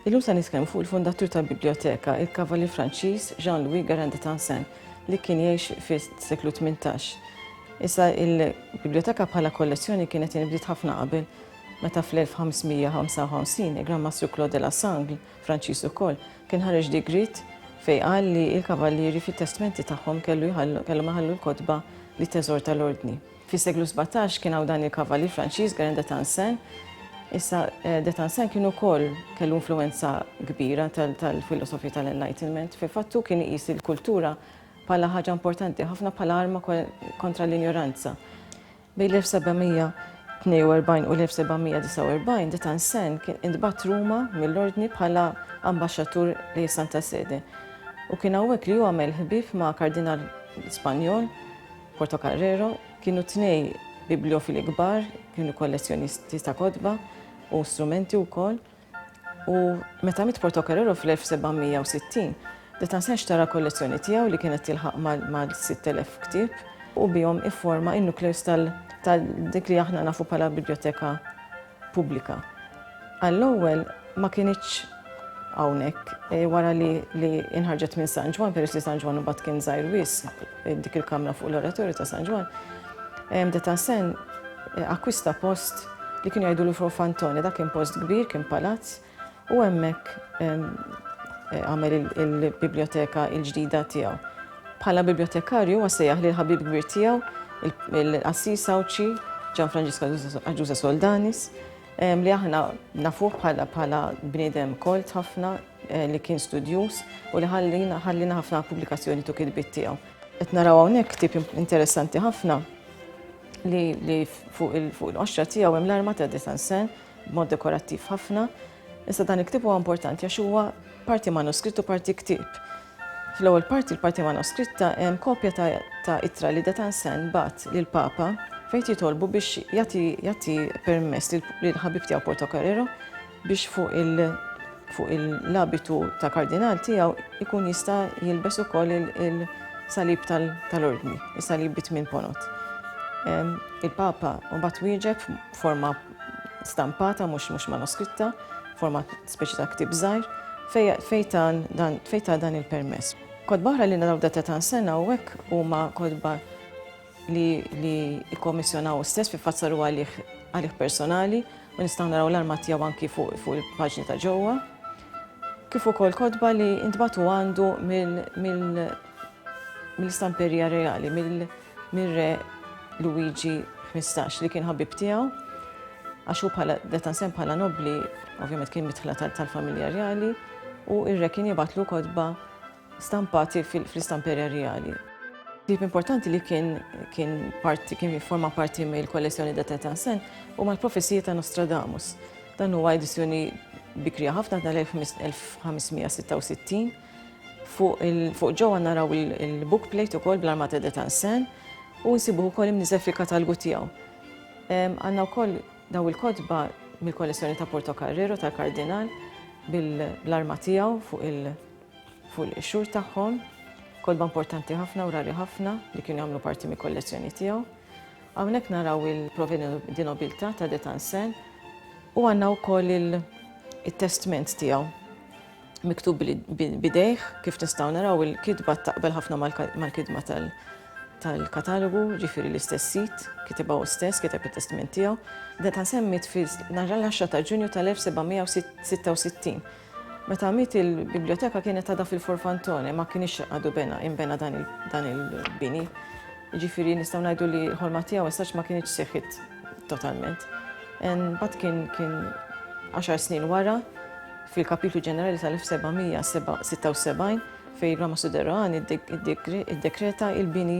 Illum se nitkellmu fuq il-fondatur tal-biblioteka, il-kavalli Franċiż Jean-Louis Garand de Tansin, li kien jgħix fis-seklu 18. Issa il-biblioteka bħala kollezzjoni kienet inbdiet ħafna qabel, meta fl-1555 il-Gran Mastru Claude de la Sangle Franċiż ukoll kien ħareġ digriet fejn qal li l-Kavallieri fit-testmenti tagħhom kellhom iħallu l-kotba li teżorta l-Ordni. Fis-seklu sbatax kien hawn dan il-Kavallier Franċiż Guerin de Tencin. Issa de Tencin kien ukoll kellu influwenza kbira tal-filosofi tal-Enlightenment. Fil-fatt hu kien iqis il-kultura bħala ħaġa importanti ħafna bħala arma kontra l-injoranza. Bejn l-1742 u l-1749 De Tencin kien intbagħat Ruma mill-Ordni bħala ambaxxatur lejn is-Santa Sede, u kien hawnhekk li hu għamel ħbieb ma' kardinal Spanjol, Portocarrero. Kienu t-tnejn bibliofili kbar, kienu kollezzjonisti ta' kotba u strumenti wkoll. U meta miet Portocarrero fl-1760, De Tencin xtara kollezzjoni tiegħu li kienet tilħaq mal-6,000 ktieb u bihom ifforma n-nukleus ta' dik li aħna nafu bħala biblioteka pubblika. Għall-ewwel ma kinitx hawnhekk, wara li nħarġet minn San Ġwann, peress li San Ġwann imbagħad kien żgħir wisq, Dik il-kamra fuq l-oratorju ta' San Ġwann. Detansen akkwista post li kien jgħidu l Fantoni, dak kien post kbir, kien palazz, u hemmhekk għamel il-biblioteka il-ġdida tiegħu. Bħala bibliotekarju huwa sejjaħ li l-ħabib kbir tiegħu, il-qassis Awċi, Ġan Franġiska Ġuża Soldanis, li aħna nafuh bħala bniedem kolt ħafna, Eh, li kien studjuż u li ħallina ħallina ħafna pubblikazzjoni tu kitbiet tiegħu. Qed naraw hawnhekk ktib interessanti ħafna li, li fuq il-qoxra tiegħu hemm l-arma ta' Detansen b'mod dekorattiv ħafna. Issa dan il-ktib huwa importanti għax huwa parti manuskritt u parti ktib. Fl-ewwel parti l-parti manuskritta hemm kopja ta' itra li Detansen bat lil Papa fejn jitolbu biex jagħti permess lil ħabib tiegħu Porto Carrero biex fuq il fuq il l-abitu ta' kardinal tiegħu jkun jista' jilbes ukoll il-salib tal-ordni, il-salib bi tmien ponot. Il-Papa mbagħad wieġeb forma stampata mhux mhux manoskritta, forma speċi ta' ktib żgħir, fejta dan il-permess. Kodba oħra li naraw datata sena u hekk huma kodba li jikkommissjonaw stess fi fazzaru għalih personali u nistgħu naraw l-arma tiegħu anki fuq il-paġni ta' ġewwa. Kif ukoll kotba li intbatu għandu mill-istamperija reali, mill-re Luigi 15 li kien ħabib tiegħu għax hu bħala deta sem bħala nobli, ovvjament kien mitħla tal-familja reali, u ir-re kien jibatlu kodba stampati fl-istamperi rjali. Ktieb importanti li kien kien parti kien jifforma parti mill-kollezzjoni da Tetansen huma l-Profezija ta' Nostradamus. Dan huwa edizzjoni bikrija ħafna tal-1566. Fuq ġewwa naraw il-book plate ukoll bl-armata de Tansen u nsibuh ukoll imniżel fil-katalgu tiegħu. Għandna wkoll daw il-kotba mill-kollezzjoni ta' Portocarrero tal-Kardinal bl-arma tiegħu fuq il- Fuq il-qixxur tagħhom, kotba importanti ħafna u rari ħafna li kienu jagħmlu parti mill-kollezzjoni tiegħu. Hawnhekk naraw il-Proveni di Nobiltà ta' De Tansen u għandna wkoll it-testment tiegħu miktub bidejh kif nistgħu naraw il-kitba taqbel ħafna mal-kitba tal-katalogu, ġifieri l-istess sit, kitibha hu stess, kiteb it-testament tiegħu. De Tansen miet fil-10 ta' Ġunju tal-1766 Meta miet il-bibljoteka kienet għadha fil-Forfantone, ma kienx għadu bena inbena dan il-bini. Jiġifieri nistgħu ngħidu li l-ħolma tiegħu essax ma kienx seħħit totalment. Mbagħad kien kien 10 snin wara fil-Kapitlu Ġenerali tal-1776 fejn Rama Suderani iddekreta il-bini